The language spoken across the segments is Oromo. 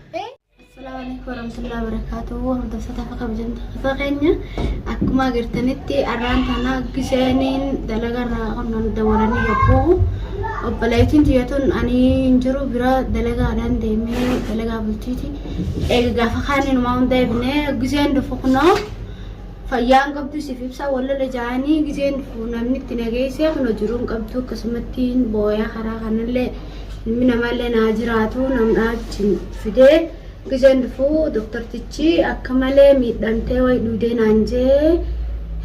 Assalaamu alaikum warahmatullahi wabarakatuh. Hordoftoota akka kabajamtoota keenya akkuma agartanitti arraan tana gisheeniin dalagarraa qonnaan dabalanii yogguu obboleettiin tiyyatuun ani hin jiru bira dalagaadhaan deemee dalagaa bulchiiti. Eega gaafa kaaniin umaa hunda eegnee gisheen dhufu kunoo fayyaan qabdu siif ibsa wallola jaanii gisheen dhufu namni itti nageessee kunoo jiruun qabdu akkasumatti booyaa karaa kanallee ilmi namaallee naa jiraatu namdhaa achi fidee gizeen dhufuu doktartichi akka malee miidhamtee wayi dhuudee naan jee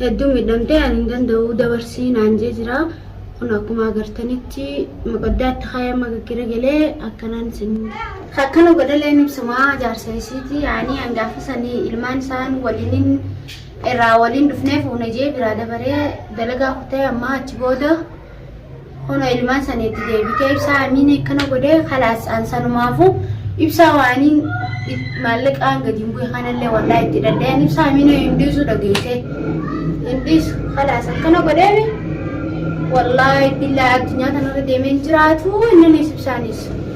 hedduu miidhamtee ani hin danda'u dabarsii naan jee jira kun akkuma agartanitti maqaddaatti ka'ee amma gaggera galee akkanaan isin akkana godhalee ibsumaa jaarsa isiiti ani hangaafa sanii ilmaan isaan waliin irraa waliin dhufnee fuuna jee biraa dabaree dalagaa kutee ammaa achi booda Kunoo ilmaan saniitti deebitee ibsaa amiin akkana godhee kalaas an sanumaafu ibsaa waaniin maallaqaan gadi hin bu'e kanallee wallaa itti dadhee an ibsaa amiin hin dhiisu dhageessee hin dhiisu kalaas akkana godheemi wallaahi billaa addunyaa kanarra deemee hin jiraatu inninis ibsaanis.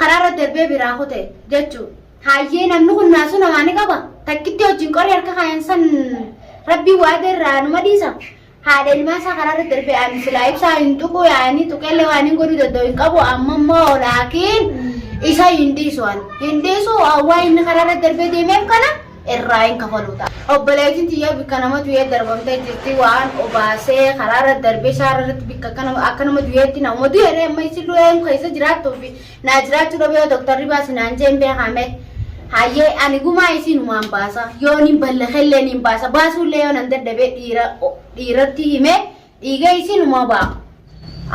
Karaarra darbee biraa kute jechu. Haayyee namni kun naasuu namaa ni qaba. Takkitti wajjin qorii harka kaayan san rabbii waada irraa numa dhiisa. Haadha ilmaa isaa karaarra darbee ani silaa ibsaa hin tuqu yaanii tuqeellee waan hin godhuu danda'u hin qabu amma immoo laakiin isa hin dhiisu ani. Hin dhiisu waa inni karaarra darbee deemeef kana irraa hin kafaluu ta'a. Obboleettiin tiyya bikka nama du'ee darbamtee jirti waan obaasee karaa irra darbee shaara irratti bikka akka nama akka nama du'eetti nama du'eeree amma isin du'een keessa jiraattuu fi naa jiraachuu dhabee yoo doktarri baasi naan jeen beekame hayyee ani gumaa isiin humaan baasa yoo niin ballakellee niin baasa baasuullee yoo nan dadhabee dhiira dhiiratti himee Dhiiga isinumaa ba'a.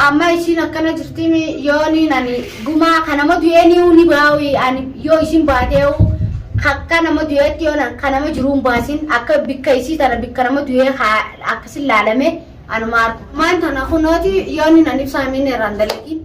Amma isiin akkana jirtimi yoo niin ani gumaa ka nama du'ee ni'uu ni baa'u ani yoo isin baatee'u akka nama du'eetti yoo na- ka nama jiruun baasin akka bikka isii tana bikka nama du'ee haa akkasin laalame anuma argu. Maan tana kunooti yoo niin ani ibsaa miin irraan dalagin.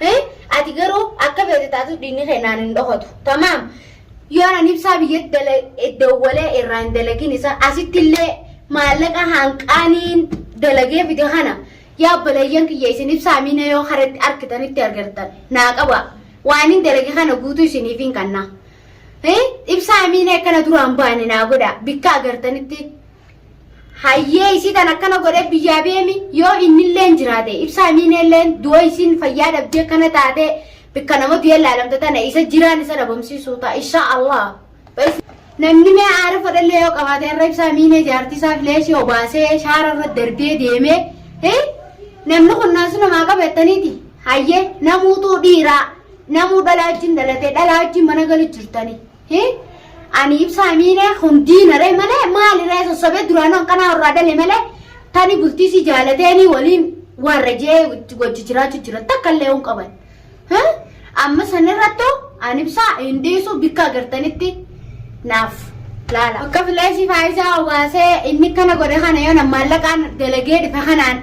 Hee? Ati garuu akka feete taatu dhiigni kee naan hin dhokatu. Tamaam. Yoo anan ibsaa biyyatti dala- eh, dawwalee irraa hin dalagin isaa asitti illee maallaqa hanqaaniin dalagee fide kana yaa obboleeyyan kiyya isin ibsaa miina yoo karatti argitanitti argattan naa qaba. Waan hin dalage kana guutuu isiniif hin kanna. Hee? Ibsaa miina akkana duraan baane naa godha. Bikka agartanitti hayyee isii tan akkana godhee biyyaa beemi yoo innilleen jiraate ibsaa miineelleen du'a isiin fayyaa dhabdee kana taate bikka nama du'ee laalamte tana isa jiraan isa dhabamsiisuu ta'a insha allah namni mee aara fadhallee yoo qabaate irra ibsaa miinee jaartisaa fileesii obaasee shaara irra darbee deemee hee namni kun naasu namaa qabeettaniiti hayyee namuutuu dhiiraa namuu dhalaa wajjin dhalatee dhalaa wajjin mana galu jirtanii Hii ani ibsaa miine kun diina ree malee maali ree sossobee duraanuu akkanaa warraa dale malee tani bultii si jaalateenii waliin warra jee wajji jiraachuu jira takka illee hin qaban. Hii? Amma sanirrattu ani ibsaa hin dhiisu bikka agartanitti naaf laala. Akka fileesii faayisaa obaasee inni kana godhe kana yoo nammaallaqaan dalagee dhufe kanaan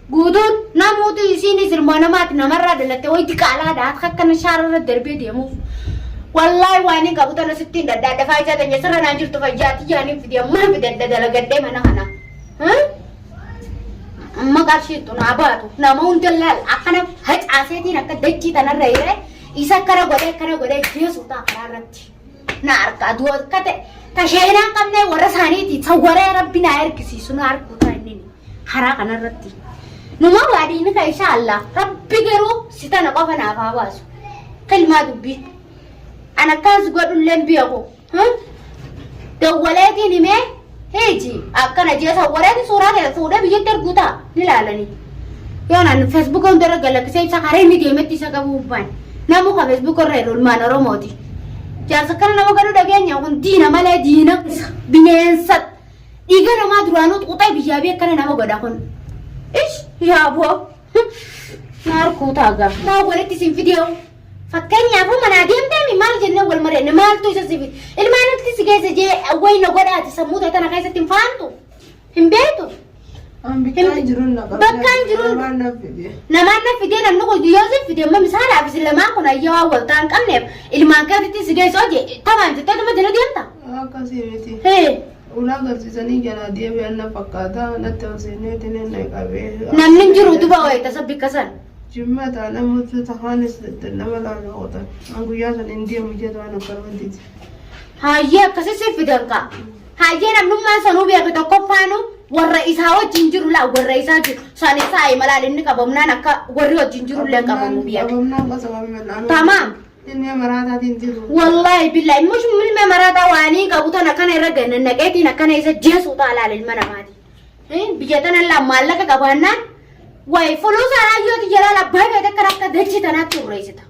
Guutuun namuutu isiinis ilmoo namaati namarraa dhalatte wayi diqaalaadha akka akkana shaararra darbee deemuuf. Wallaahi waan hin qabu tana sittiin dhadhaadha faayisaa tanya sirra naa jirtu fayyaa tiyyaan hin fidee mana fidadha dalagadhee mana kana. Amma qarshiittu naa baatu nama hunda laal akkana facaaseetiin akka dachii tanarra hiree isa akkana godhee akkana godhee jeesuu ta'a karaa irratti. Na argaa du'a akka ta'e tashaayinaa qabnee warra isaaniitii sawwaree rabbi naa ergisiisu na arguu ta'a inni. karaa kanarratti. Numaa waa diinni kan inshaa Allah rabbi garuu si tana qofa naaf haa baasu. Kilmaa dubbii. An akkaas godhulleen biyya koo. Dawwaleetiin himee heeji akkana jeesa wareetiin suuraa ta'e fuudhee biyyatti erguu ta'a ni laalanii. Yoo naan feesbuuka hundarra galakkisee ibsa karaa inni deemetti isa qabuu baan. Namuu kan feesbuuka irra jedhu ilmaan Oromooti. Jaarsa kana nama godhu dhageenya kun diina malee diina bineensa Dhiiga namaa duraanuu xuuxee biyyaa biyya akkana nama godha kun. Ish yaa boo. Maal kuutaa gaa. Maa walitti isin fidee Fakkeenyaaf manaa deemtee maal jennee wal mari'anne maaltu isa sifi ilmaan nuti si keessa jee wayna godhaati sammuu ta'e tana keessatti hin faantu hin beektu. Bakkaan jiruun namaan na fidee namni kun yoo si fidee amma misaalaaf isin lamaan kun ayyaa waan wal ta'an qabneef ilmaan keetitti si geessoo jee tamaan jettee dhuma jala deemta. Akkasii miti. Hee. Ulaa garsiisanii jalaa deebi'an na fakkaata. Natti ol seeneetiin inni na qabee. Namni hin jiru utubaa wayii tasa bikka san. Jimmaa taana mutu tahaanis nama laala oota. An guyyaa san hin deemu jedhu an akkanuma dide. Hayyee akkasii siif fidan kaa. Hayyee namnummaan sanuu beeku tokkoffaanu warra isaa wajjin jiru laa warra isaa jiru. Saan isaa malaan inni qabamnaan akka warri wajjin jiru illee qabamu beeku. Qabamnaan qasa qabamnaan. Tamaam. Ilmee maraataatiin jiru. Wallaahi billaahi mush ilma maraataa waanii qabu tan akkana irra ganna naqeetiin akkana isa jeesuu ta'a laala ilma namaati. Eh, Biyya tana laa maallaqa qabaannaan wayi fuluusa raayyooti jalaala baay'ee takka akka dachii tanaatti urreessita.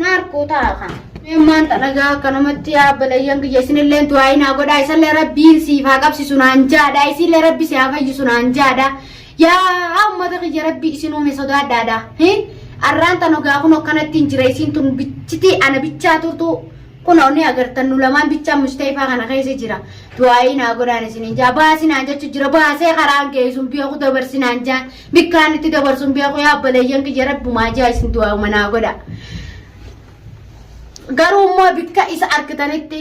Naarkuu ta'a kan. Ilmaan xanagaa akka namatti yaabbalayyan biyya isinillee du'aayi naa godhaa isallee rabbiin siif haa qabsisu naan jaadha isinillee rabbi si haa fayyisu naan jaadha. Yaa ummata kiyya rabbii isin uume sodaadhaadha. Hin arraan tan ogaa kun akkanatti hin jira isiin tun bichitii ana bichaa turtu kun onni agartan nu lamaan bichaa mustayfaa kana keessa jira. Du'aayii naa godhaan isin hin jaa baasi naan jechu jira baasee karaan geessuun beeku dabarsi naan jaan bikkaan itti dabarsuun beeku yaa balayyan kiyya rabbumaa jaa isin du'aayuma naa godha. Garuu immoo bikka isa argitanitti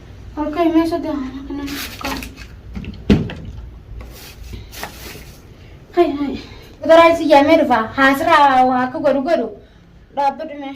Harka imee sodaa mana kana harkaa. Hai hai. Gara si yamee dhufa haasira waa akka godhu godhu dhaabbadhu mee.